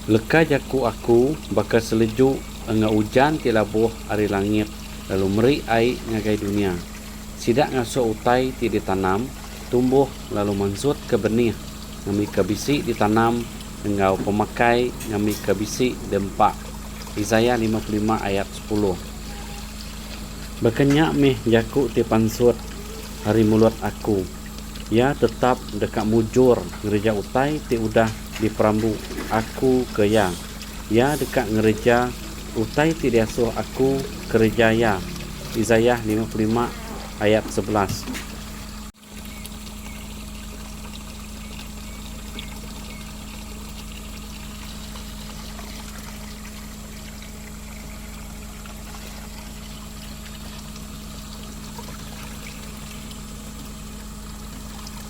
Leka jaku aku baka seleju enggau ujan ti labuh ari langit lalu meri ai ngagai dunya. Sida ngasuh utai ti ditanam tumbuh lalu mansutka benih ngambika bisi ditanam enggau pemakai ngambika bisi diempa. Isaiah lima puluh lima ayat sepuluh. Baka nya meh jaku ti pansut ari mulut aku, Iya tetap deka mujur ngereja utai ti udah diperambu aku ke iya. Iya deka ngereja utai ti diasuh aku kereja iya. Isaiah lima puluh lima ayat sebelas.